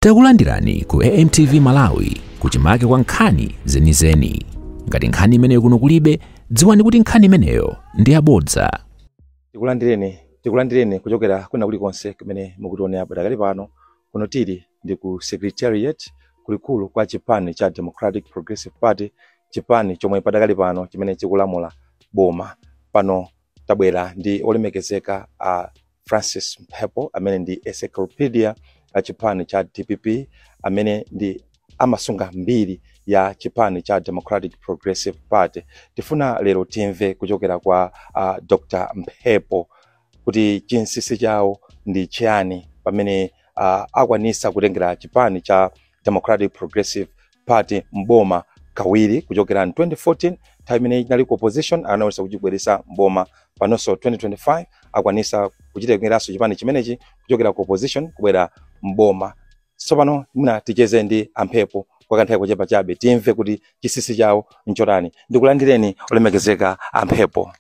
Takulandirani ku AMTV Malawi kuchimake kwa nkhani zenizeni. Ngati nkhani imeneyo kuno kulibe, dziwani kuti nkhani imeneyo ndi yabodza. Tikulandireni kuchokera kwina kulikonse kumene mukutionera padakali pano kuno tili ndi ku secretariat kulikulu kwa chipani cha democratic progressive party chipani chomwe padakali pano chimene chikulamula boma pano tabwera ndi olemekezeka a Francis Mphepo amene ndi encyclopedia ya chipani cha dpp amene ndi amasunga mbiri ya chipani cha Democratic Progressive Party. Tifuna lero timve kuchokera kwa uh, Dr. Mphepo kuti chinsisi chawo ndi chiyani pamene uh, akwanisa kutengera chipani cha Democratic Progressive party mboma kawiri kuchokera in 2014 nthawi imene inali ku opposition anayesa kuchibweresa mboma panonso 2025 akwanisa kuchitengeranso chipani chimenechi kuchokera ku opposition kubwera mboma tsopano mwina ticheze ndi amphepo kwa kanthawi kochepa chabe timve kuti chinsisi chawo nchotani ndikulandireni olemekezeka amphepo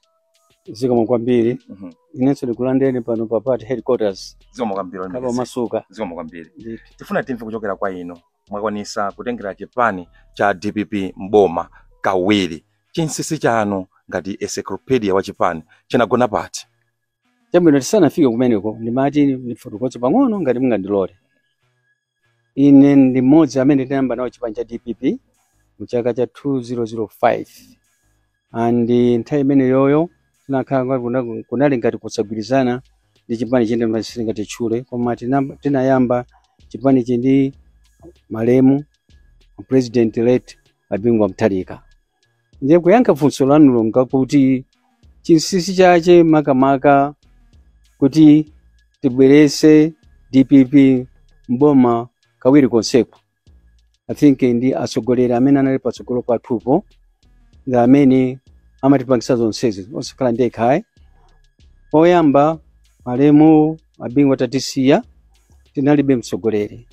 zikomo kwambiri Mhm. inenso ndikulandireni pano pa party headquarters zikomo kwambiri olemekezeka khalani omasuka zikomo kwambiri Ndithu. tifuna timve kuchokera kwa inu mwakwanisa kutengera chipani cha dpp mboma kawiri chinsisi chanu ngati encyclopedia wa chipani chagona pati chabwino tisanafike kumeneko ndimati ndifotokoze pang'ono ngati mungandilole ine ndi mmodzi amene tinayamba nawo chipani cha dpp mu chaka cha 2005 and nthawi imeneyoyo tinakhala ngati kuna- kunali ngati kusagwirizana ndi chipani china chimene sindingatchule koma tinam- tinayamba chipanichi ndi malemu president late a Bingu wa Mutharika ndiye kuyankha funso lanulo ndi lakuti chinsinsi chache makamaka kuti tibwerese dpp mboma kawiri konseko i think ndi atsogoleri amene anali patsogolo pathupo ndi amene amatipangisa zonsezi osakhala ndekha ayi poyamba malemu a Bingu atatisiya tinalibe mtsogoleri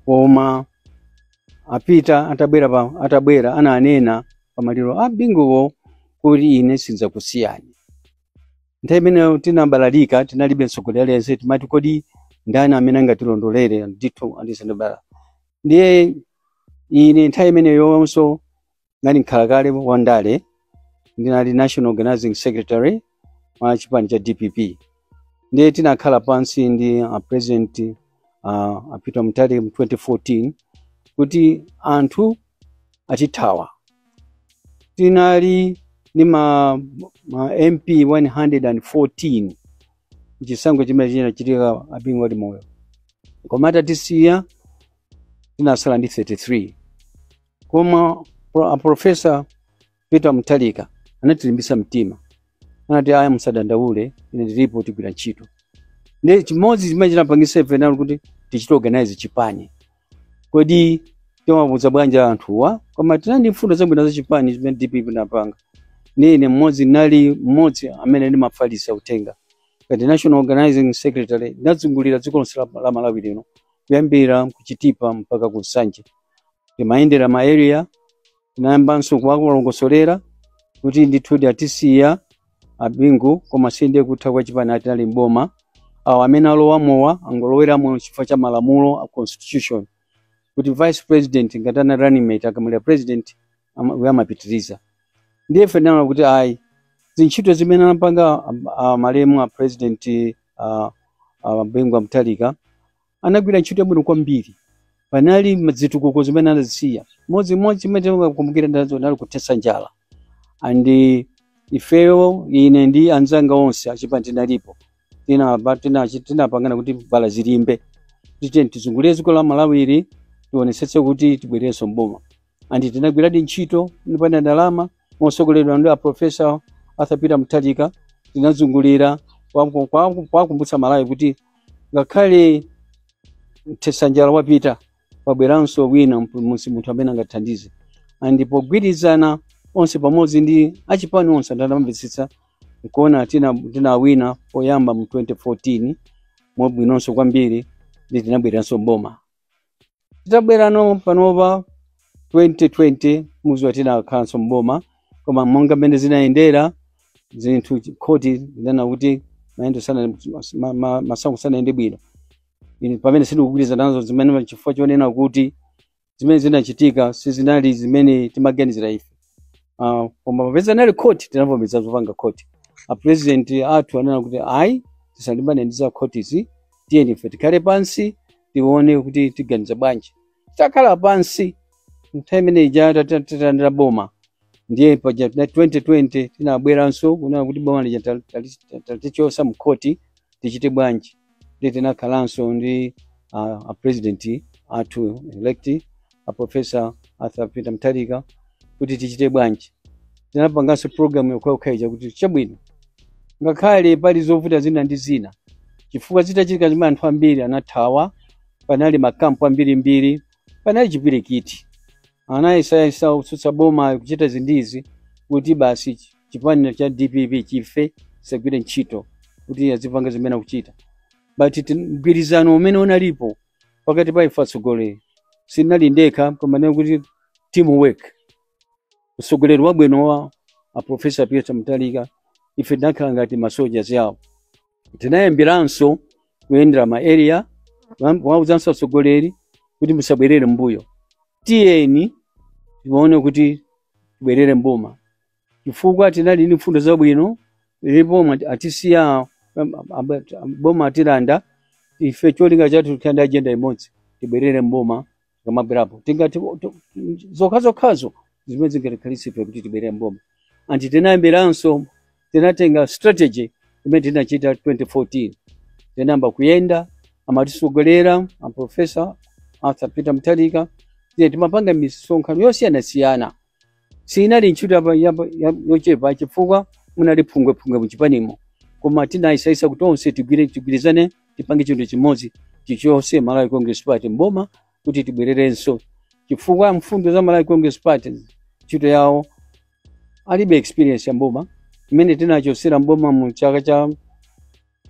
koma a Peter atabwera pa, atabwera ananena pamaliro a binguwo kuti ine sindzakusiyani nthawi imeneyo tinabalalika tinalibe mtsogoleri aliyense timati kodi ndani amene angatilondolere ndithu andisendebala ndiye ine nthawi imeneyonso ngati mkhalakale wa ndale ndinali national organizing secretary wa chipani cha dpp ndiye tinakhala pansi ndi a president uh, a Peter Mutharika mu 2014 kuti anthu akutithawa tinali ndi ma, ma MP 114 chisankho chimene chinachitika a Bingu ali moyo koma atatisiya tinatsala ndi 33 koma pro- a profesa Peter Mutharika anatilimbitsa mtima, anati aya, musadandaule, ine ndilipo, tigwira ntchito. Ndi chimodzi chimene chinapangitsa ife nalo kuti tichite organize chipani. Kodi timawauza bwanji anthuwa? Koma tinali ndi mfundo zabwino za chipani chimene DPP inapanga. Ndi ine mmodzi nali mmodzi amene ndimafalitsa uthenga ngati national organizing secretary ndinazungulira dziko lonse la la Malawi lino kuyambira ku Chitipa mpaka ku Nsanje. Ndimayendera ma area tinayambanso kuwalongosolera kuti ndithudi atisiya a Bingu koma sindiye kutha kwa chipani tinali mboma awo amene alowamowa angoloweramo chifukwa cha malamulo a constitution kuti vice president ngati anali running mate akamwalira president ama- uyo amapitiriza ndiye ife tinaona kuti ayi ntchito zimene anapanga am- a malemu a president a, a Bingu wa Mutharika anagwira ntchito yabwino kwambiri panali mazitukuko zimene anazisiya modzi modzi chimene tikukumbukira ndazo nali kuthetsa njala and ifeyo ine ndi anzanga onse achipani tinalipo tinaba- tinachi- tinapangana kuti vala zilimbe titeni tizungulire dziko la malawi ili tionetsetse kuti tibwererenso mboma and tinagwiradi ntchito tipanda ndalama motsogoleredwa ndi aprofesa arthur peter mutharika tinazungulira kuwaku- kuwaku- kuwakumbutsa amalawi kuti ngakhale mthetsanjala wapita pabweranso wina mp- musi munthu amene angathandize and pogwirizana onse pamodzi ndi achipani onse anamvetsetsa nkuona tina- tinawina poyamba mu 2014 mwabwinonso kwambiri ndi tinabwereranso mboma titabwerano panopa 2020 mukudziwa tinakhalanso mboma koma monga mmene zinayendera zinthu chi- khoti linanena kuti mayendo sana ma- ma- masankho sanayende bwino Ine pamene sindikugwirizana nazo zimene chifukwa chonena kuti zimene zinachitika sizinali zimene timaganizira ife Ah, koma popeza anali khoti tinavomereza zopanga khoti apurezidenti athu ananena kuti ayi tisalimbane ndi za khotizi tiyeni ife tikhale pansi tione kuti tiganiza bwanji titakhala pansi nthawi imene ija atatilanda boma ndiye paja 2020 tinabweranso kunena kuti boma lija atatichotsa mkhoti tichite bwanji ndiye tinakhalanso ndi uh, a president athu elect a professor arthur peter mutharika kuti tichite bwanji tinapanganso program yokhayokhaija kuti chabwino ngakhale pali zovuta zina ndi zina chifukwa zitachitika zimene anthu ambiri anathawa panali makampu ambirimbiri panali chipwirikiti anayesayesa otsutsa boma kuchita izi ndi izi kuti basi chi- chipani cha dpp chife chisagwire ntchito kuti azipanga zimene akuchita but mgwirizano umene unalipo pakati pa ife atsogoleri sinali ndekha komanena kuti teamwork utsogoleri wabwino wa a professor peter mutharika ife tinakhala ngati masoja awo tinayambiranso kuyendera ma area kuwauzanso atsogoleri kuti musabwerere mbuyo tiyeni tione kuti tibwerere m'boma chifukwa tinali ndi mfundo zabwino ili boma atisiya boma atilanda ife cholinga chathu tikhale ndi ajenda imodzi tibwerere m'boma tikamabwerapo tingati o- to- zokhazokhazo zimene zingatikhalitse ife kuti tibwerere m'boma and tinayambiranso tinatenga strategy imene tinachita 2014 tinayamba kuyenda amatitsogolera a professor arthur peter mutharika ndiye timapanga misonkhano yosiyanasiyana siinali ntchito yapa- yapa- ya- yochepa chifukwa munali phungwephungwe muchipanimo koma tinayesayesa kuti onse tigwire tigwirizane tipange chinthu chimodzi tichotse malawi congress party m'boma kuti tibwererenso chifukwa mfundo za malawi congress party ntchito yawo alibe experience ya m'boma mmene tinawachotsera m'boma mu chaka cha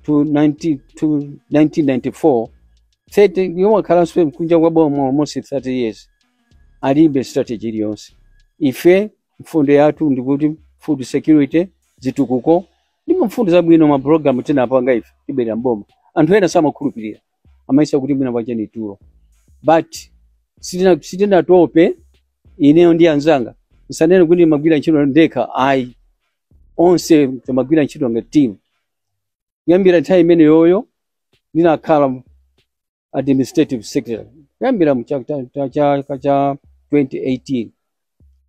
to 19 to 1994 30 yomwe akhalanso kunja kwa boma almost 30 years alibe strategy iliyonse ife mfundo yathu ndikuti food security zitukuko ndi mfundo zabwino ma program tinapanga ife tibwerera m'boma anthu ena samakhulupirira amayesa kuti mwina tacha ndi tulo but sitina- sitinatope ineyo ndi anzanga ndisanene kuti ndimagwira ntchito ndekha ayi onse timagwira ntchito ngati team kuyambira nthawi imeneyoyo ndinakhala administrative secretary kuyambira mu chaka cha- cha- chaka cha 2018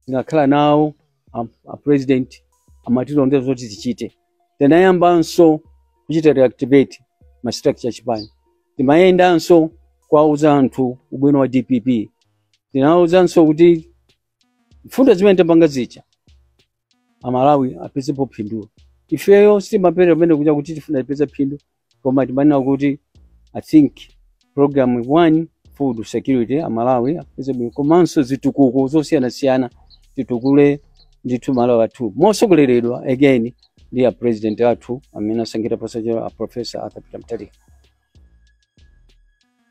ndinakhala nawo a- a president amatilongoza zoti tichite tinayambanso kuchita reactivate ma structure a chipani timayendanso kuwauza anthu ubwino wa dpp tinauzanso kuti mfundo zimene tapanga zija amalawi apezepo phindu ifeyo sitimapere pamene kuja kuti tifuna tipeze phindu koma timanena kuti i think program one food security amalawi apeze bwino komanso zitukuko zosiyanasiyana zitukule ndithu malawi wathu mosogoleredwa again ndi a president athu amene asankhidwa posachedwa a professor arthur peter mutharika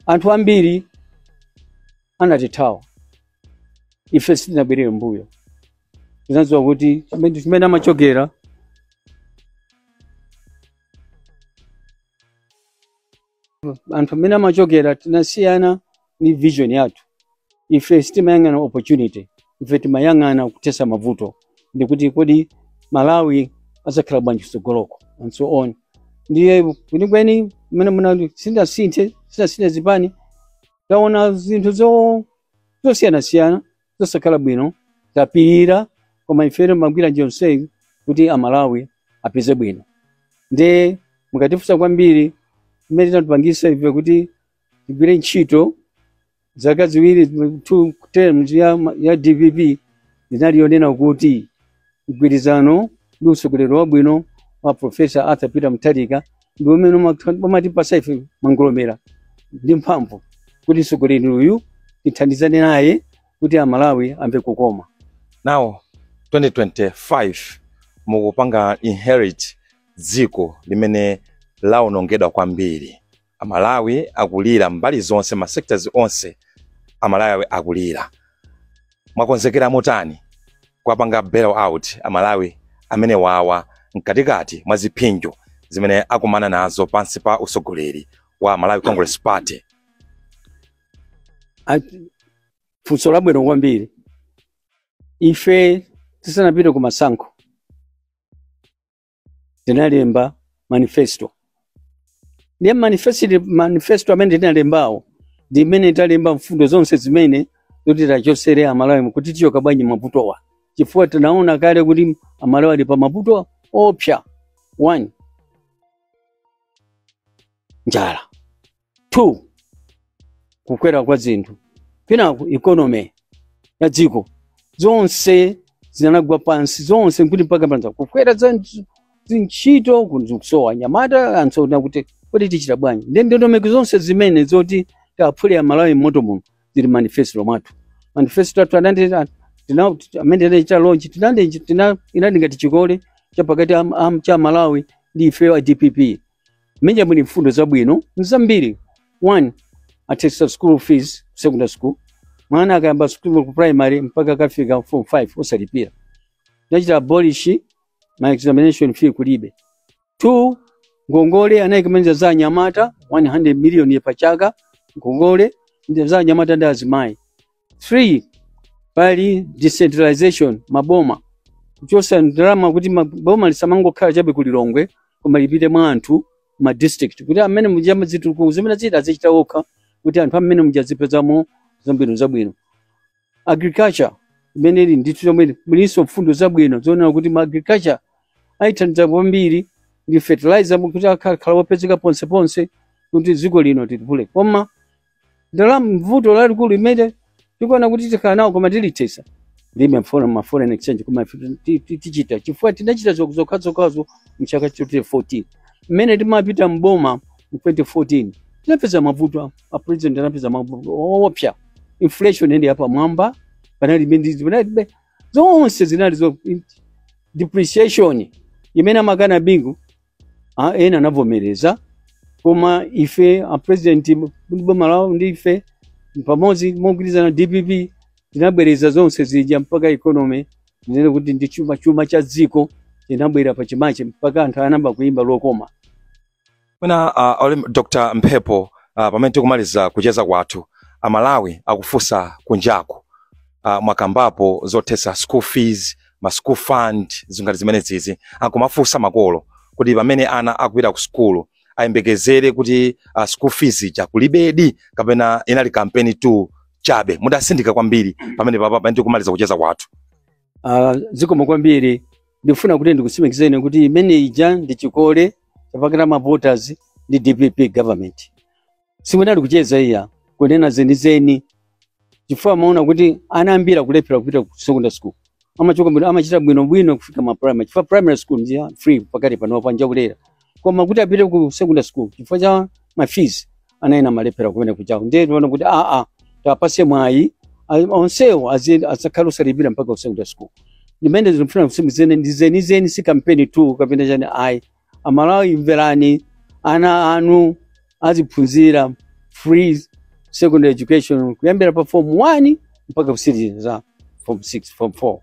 anthu ambiri anatithawa ife sitinabwerere mbuyo tinadziwa kuti chimene chimene amachokera anthu amene amachokera anasiyana ndi vision yathu ife sitimayang'ana opportunity ife timayang'ana kuthetsa mavuto ndikuti kodi malawi azakhala bwanji kutsogoloko and so on ndiye kwenikweni mmene muno sitinasinthe sitinasinthe zipani taona zinthu zo- zosiyanasiyana zosakhala bwino tapirira koma ife timagwira njira yonseyi kuti amalawi apeze bwino nde mukatifunsa kwambiri chimene chinatipangisa ife kuti tigwire ntchito zaka ziwiri two terms ya, ya dpp inali yonena kuti mgwirizano ndi utsogoleri wabwino wa profesa arthur peter mutharika ndi umene umakha- umatipasa ife mangolomera ndi mphamvu kuti mtsogoleri uyu tithandizane naye kuti amalawi amve kukoma now 2025 mukupanga inherit dziko limene lawonongedwa kwambiri Amalawi akulira mbali zonse, ma sectors onse Amalawi akulira. Mwakonzekera motani kuwapanga bail out Amalawi amenewawa mkatikati mwa ziphinjo zimene akumana nazo pansi pa usogoleri wa Malawi Congress Party? Funso labwino kwambiri. Ife tisanapite ku masankho tinalemba manifesto ndiye mmanifesto amene tinalembawo ndi mmene talemba mfundo zonse zimene zoti tiwachosere amalawi kuti tichoka bwanji mmavutowa chifukwa tinaona kale kuti amalawi ali pa mavuto oopsa one njala 2 kukwera kwa zinthu kenako economy ya dziko zonse zinagwa pansi zonse kuti mpaka pa za kukwera za ntch- zintchito kusowa anyamata and so on kuti kodi tichita bwanji nde ndondomeko zonse zimene zoti tiwaphule amalawi mmoto muno zili mmanifesto mwathu manifesto athu anandi tina- amene tinachita launch tinandi tina- inali ngati chikole chapakati am- am- cha malawi ndi ifeyo a dpp Mmenemo muli mfundo zabwino nzambiri. One, athetsa school fees ku secondary school. Mwana akayamba school ku primary mpaka akafika form 5 osalipira. Nachita abolish ma examination fee kulibe. Two, ngongole anayikamo ndi za anyamata 100 million pa chaka ngongole ndi za anyamata ndi azimayi. 3 pali decentralization maboma kuchosa ndalama kuti ma- boma lisamangokhala chabe ku lilongwe koma lipite mwa anthu ma district kuti amene muja mazitukuko zimene zija azichita okha kuti anthu amene muja azipezamo zambiri zabwino agriculture imene ili ndithu chomwe mulinso mfundo zabwino zoonera kuti ma agriculture ayithandize kwambiri ndi fertilizer kuti akhale wopezeka ponse ponse kuti dziko lino tilitukule koma ndalama mvuto lalikulu limene tikuona kuti tikhala nawo koma tilithesa ndi mafona ma foreign exchange koma ife ti- ti- tichita chifukwa tinachita zok- zokhazokhazo mchaka cha 2014 mmene timapita mboma mu 2014 tinapeza mavuto a president anapeza mavuto oopsa inflation ndi yapamwamba panali mendizi panalibe zonse zinali zo depreciation imene amakana bingu a ena anavomereza koma ife a president ndi boma lawo ndi ife pamodzi mogwirizana dpp tinabwereza zonse zija mpaka economy ndinene kuti ndi chuma chuma cha dziko chinabwera pa chimache mpaka anthu anayamba kuimba lokoma mwina uh, ole- dr mphepo uh, pamene tikumaliza kucheza kwathu amalawi akufunsa kunjaku uh, mwakambapo zothetsa school fees ma school fund zinthu ngati zimenezizi akumafunsa makolo kuti pamene ana akupita ku sukulu ayembekezere kuti uh, school fees ija kulibedi kapena inali kampenitu chabe mutatsindika kwambiri pamene papa pamene tikumaliza kucheza kwathu Ah, zikomo kwambiri ndikufuna kuti ndikutsimikizeni kuti imene ija ndi chikole chapakati ma voters ndi dpp government sikunali kucheza iyayi kunena zenizeni chifukwa amaona kuti ana ambiri akulephera kupita ku secondary school amachoka bwino amachita bwino bwino kufika ma primary chifukwa primary school ndi ya free pakati pano ponja ndi yaulere koma kuti apite ku secondary school chifukwa cha ma fees ana ena amalephera kumenekujako ndiye tinaona kuti aa tiwapase mwayi a- onsewo azi- azakhale osalipira mpaka ku secondary school ndimene ndikufuna kusimikizani ndi zenizeni si kampenitu kapena chani ayi amalawi mverani ana anu aziphunzira free secondary education kuyambira pa form 1 mpaka kutsirizitsa form 6 form 4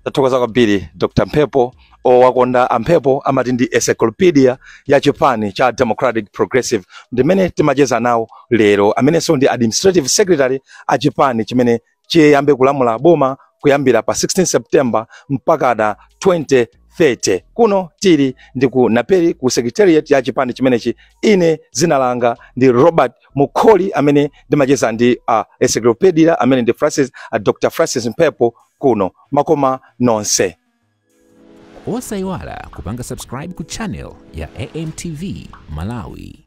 tathokoza kwambiri dr mphepo owakonda amphepo amati ndi encyclopedia ya chipani cha democratic progressive ndimene timacheza nawo lero amenenso ndi administrative secretary a chipani chimene chiyambe kulamula boma kuyambira pa 16 September mpaka na 2030. Kuno tili ndi ku Naperi ku secretariat ya chipani chimenechi. Ine zina langa ndi Robert Mukoli amene ndimacheza ndi uh, encyclopedia amene ndi Francis, uh, Dr. Francis Mphepo kuno makoma nonse. Osaiwala kupanga subscribe ku channel ya AMTV Malawi.